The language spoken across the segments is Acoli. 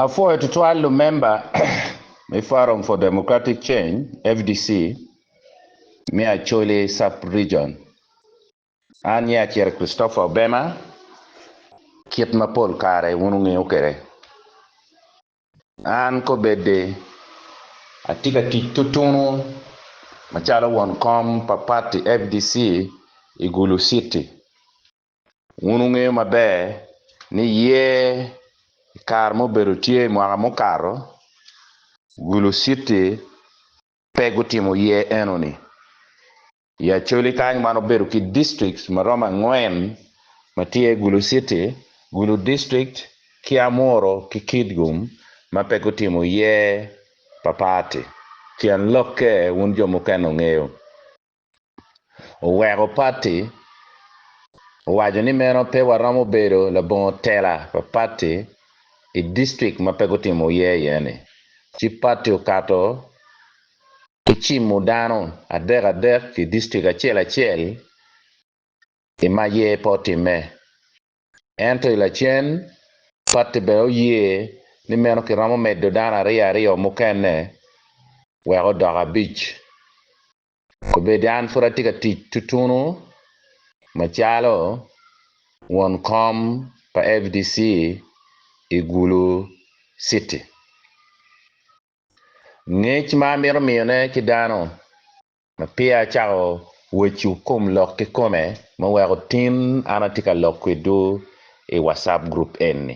Apwoyo tutwal lumemba me Forum for Democratic Change, FDC, me Acholi Sub-Region. An nyinga acito Christopher Obema, kit ma pol kare wun wungeyo kwede. An kobeddi atye ka tic tutunu macalo won kom pa pati FDC i Gulu City. Wun wungeyo maber ni yer i kare ma obedo tye i mwaka mukato, Gulu City pe gutimo yer enoni. I Acholi kany wan wabedo ki districts ma romo angwen ma tye iye Gulu City, Gulu District ki Amuru ki Kitgum ma pe gutimo yer pa party. Tyen lokke wun jo mukene wungeyo. oweko pati owaco ni meno pe waromo bedo labongo tela pa pati i district ma pe gutimo oye iye ni, ci pati okato ki cimo dano adek adek i district acel acel i ma ye pe otimme. Ento i lacen pati bene oye ni meno kiromo medo dano aryo aryo mukene wek odok abic Obed an pud atye ka tic tutunu macalo won kom pa FDC i Gulu Citi. Ngec ma amito miyone ki dano ma peya acako weccu kom lok kikome ma weko tin an atye ka lok kwidwu i WhatsApp group eni.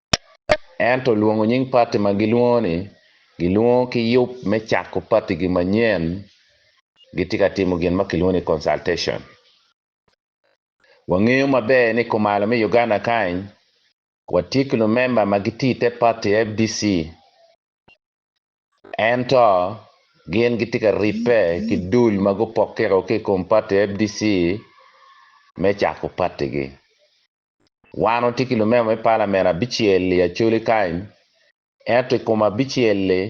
ento lwongo nying pati ma gilwongo ni gilwongo ki yub me cako patigi manyen gitye ka timo gin ma kilwongo ni consultation. Wangeyo maber ni kumalo me Uganda kany watye ki lumemba ma gitye i te pati fdc ento gin gitye ka ribbe ki dul ma gupokke ki i kom pati fdc me cako patigi. Wan watye ki lumema me palament abicel-li Acholi kany, ento i kom abicel-li,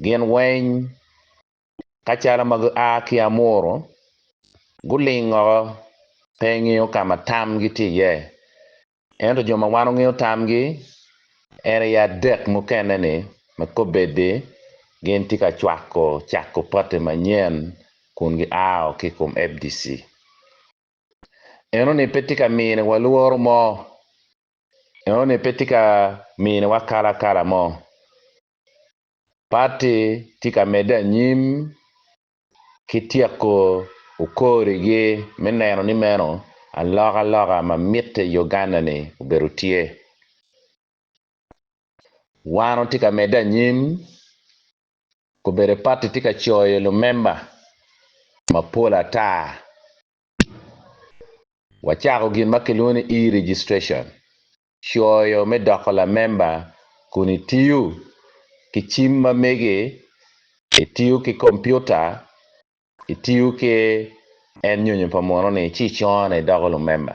gin weny kacallo ma gua ki Amuru, guling woko pe gingeyo ka ma tamgi tye iye. Ento jo ma wan wangeyo tamgi en aye adek mukene-ni ma kobeddi gin tye ka cwako cako pati manyen kun giao ki i kom fdc. Enoni pe tye ka miniwa lworo mo. Enoni pe tye ka miniwa kalakala mo. Patti tye ka medde anyim ki tyeko okorigi me neno ni meno alokaloka ma mitte i Uganda-ni obedo tye. Wan watye ka medde anyim Gubedo pati tye ka coyo lumemba mapol ata. Wacako gin ma kilwongo ni e-registration, coyo me doko lamemba kun itiyo ki cim ma mege, itiyo ki kompiuta, itiyo ki en nyonyo pa muno-ni ci icone idoko lumemba.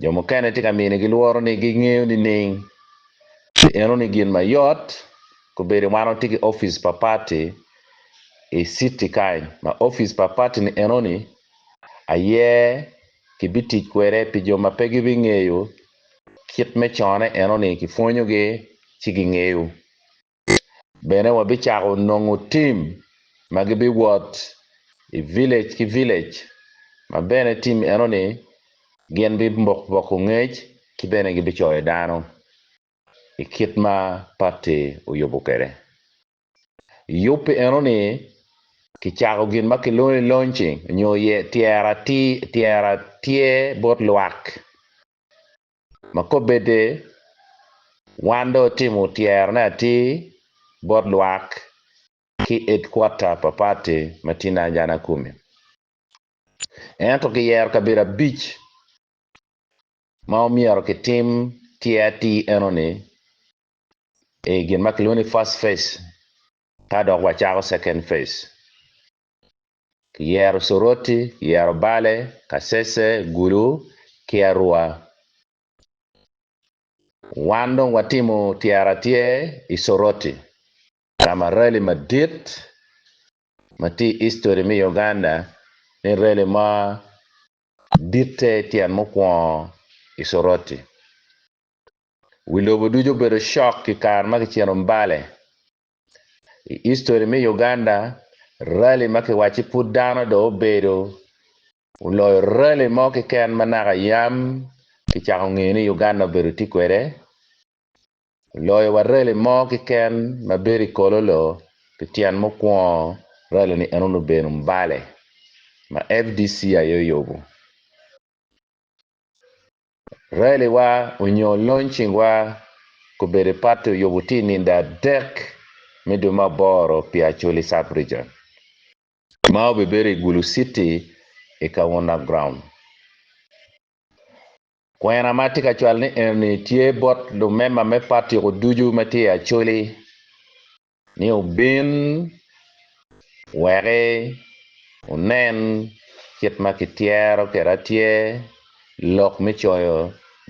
Jo mukene tye ka minigi lworo ni gingeyo nining? Pi enoni gin ma yot kobedo wan watye ki opic pa pati i citi kany ma opic pa pati ni enoni aye kibitic kwede pi jo ma pe gibingeyo kit me cone enoni kipwonyogi ci gingeyo. Bene wabicako nongo tim ma gibiwot i vilej ki vilej ma bene tim eno-ni gin bipoko ngec ki bene gibicoyo dano i kit ma patti oyubo kwede. I yub pi eno-ni, kicako gin ma kilwongo ni launching nyo tyero atir bot lwak. ma kobbe de, wan dong watimo tyerone atir bot lwak ki edkwata pa pati ma tye Nanjana kumi. Ento kiyero kabedo abic ma omyero kitim tyer atir enoni i gin ma kilwongo ni first phase ka dok wacako second phase. kiyero Curoti, kiyero Bale, Kacece, Gulu, ki Arua. Wan dong watimo tyera tye i Curoti, ka ma rali madit ma tye i history me Uganda ni rali mo ditte tyen mukwongo i Curoti. Wi lobo ducu obedo shock i kare ma kicito Mbale I history me Uganda, rally ma kiwacci pud dano dong obedo oloyo rally mo keken ma naka yam kicako ngeyo ni Uganda obedo tye kwede, oloyo wa rally mo keken ma bedo i Kololo pi tyen mukwongo rally ni eno obedo Mbale ma fdc aye oyubu. Raliwa onyo lony cingwa gubedo i party oyubu tye i ninde adek me dwe me aboro pi Acholi Sub Region ma obibedo i Gulu City i Kaunda Ground. Kwena ma atye ka cwalo ni enoni tye bot lumemba me party ko ducu ma tye i Acholi ni obin weki onen kit ma kityero kede atyer lok me coyo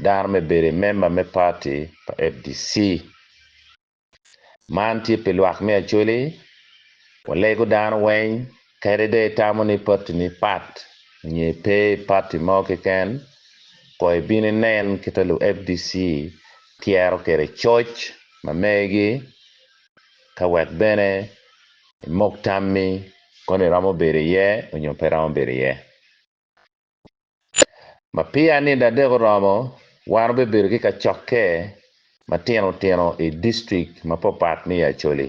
dano me bedo i memba me party pa fdc. Man tye pi lwak me Acholi, walego dano weng. Kadi dong itamo ni patini pat nyo ipe i pati mo keken, kono ibino inen kita lu FDC tyero kwede coc ma megi ka wek bene imok tammi kono iromo bedo iye onyo pe iromo bedo iye. Ma peya nino adek oromo, wan wubibedo ki kacokke matino tino i district mapat pat me i Acholi.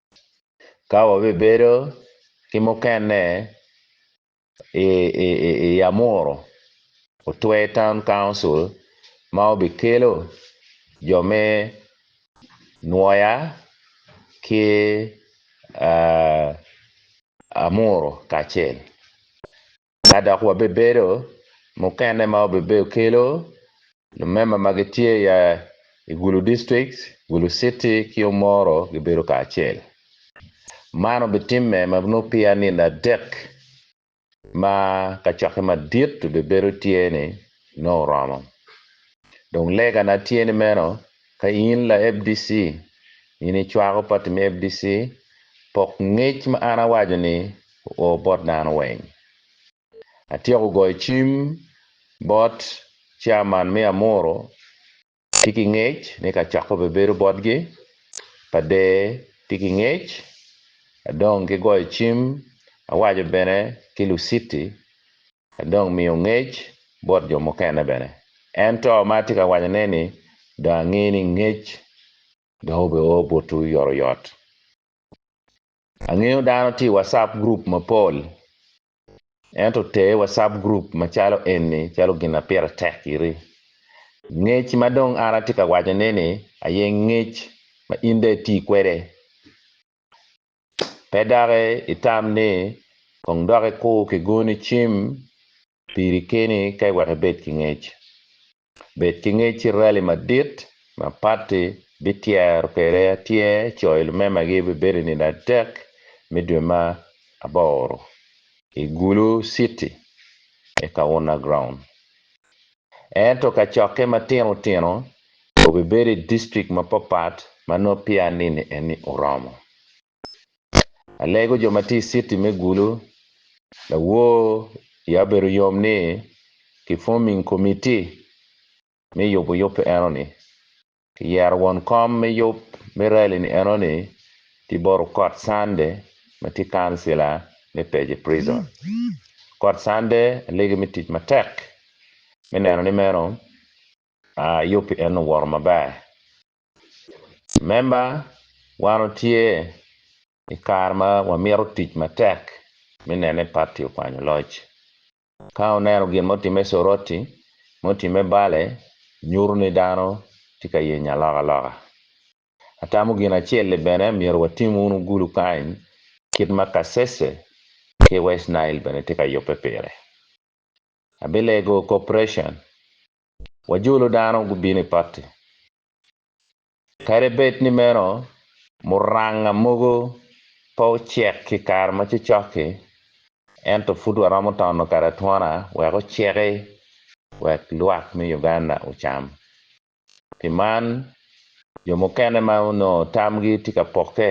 Ka wabibedo ki mukene i Yamuru Otwe Town Council ma obikelo jo me Nwoya ki Amuru kacel. Ka dok wabibedo, mukene ma wabibedo kelo lumemba ma gitye i Gulu District, Gulu City ki Omoro gibedo kacel. Man obitimme ma nongo peya nino adek ma kacokke madit obibedo tye ni nongo oromo. Dong legana tye ni meno, ka in la FDC, in icwako pati me FDC, pok ngec ma an awaco ni oo bot dano weng. Atyeko goyo cim bot chairman me Amuru tye ki ngec ni ka coko bebedo botgi pa der tye ki ngec adong ki goyo cim awaco bene ki Luciti adong miyo ngec bot jo mukene bene ento ma atye ka waco ne ni dong ange ni ngec dong obe oo botwu yotoyot. Angeyo dano tye i WhatsApp group mapol, ento ter WhatsApp group macalo eni calo gin ma pire tek giri. Ngec ma dong an atye ka wacone-ni aye ngec ma in dong iti kwede. Pe dok itam ni kong dok ikur ki goni cim Piri keni ka iweko ibed ki ngec. Bed ki ngec ci rali madit ma pati bityero kwede atyer coyo lumemagi bibedo i nino adek me dwe ma aboro i Gulu City me Kauna Ground. Ento kacokke matino tino obibedo i district mapapat ma nongo peya nini eni oromo. alego jo ma tye i citi me Gulu, lawor ya obedo yom ni ki forming komiti me yubo yub enoni. Ki yero won kom me yub me rali ni enoni ki bot okot Sunday ma tye kancila me Peje Prison. Okot Sunday alege me tic matek me neno ni meno yub pi en owoto maber. Member, Wan otye i kare ma wamito tic matek me neno ni pati okwanyo loc. Ka wuneno gin ma otimme Soroti, ma otimme Bale, nyuto ni dano tye ka yenyo alokaloka. Atamo gin acel-li bene myero watim wun ogulu kany kit ma Kasese ki West Nile bene tye ka yubbe pire. Abilego Corporation wajolo dano gubino i patti. Kadi bed ni meno, muranga mogo pe ocek i kare ma cocok-ki, ento pud waromo tono kade atwona wek oceki wek lwak me Uganda ocam. Pi man, jo mukene ma onongo tamgi tye ka pokke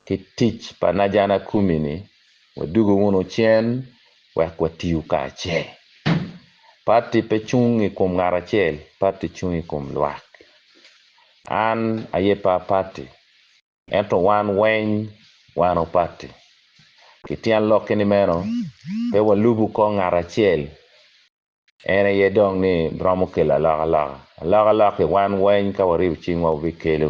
ki tic pa Najana Kumi-ni, wadugu wunu cen wek watiyu kacel. Pati pe cung i kom ngat acel, pati cung i kom lwak. An aye par pati, ento wan weny wano pati. Ki tyen lokki ni meno, pe walubu kong ngat acel, en aye dong ni romo kelo alokaloka. Alokaloki wan weny ka waribo cingwa wabikelo.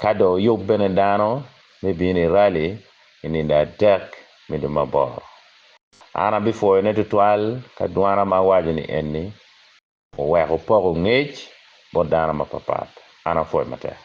Ka dong oyub bene dano me bino i rali i nino adek me dwe me aboro, an abipwoyone twatwal ka dwana ma awaco ni enni, Oweko opoko ngec bot dano mapat pat, an apwoyi matek.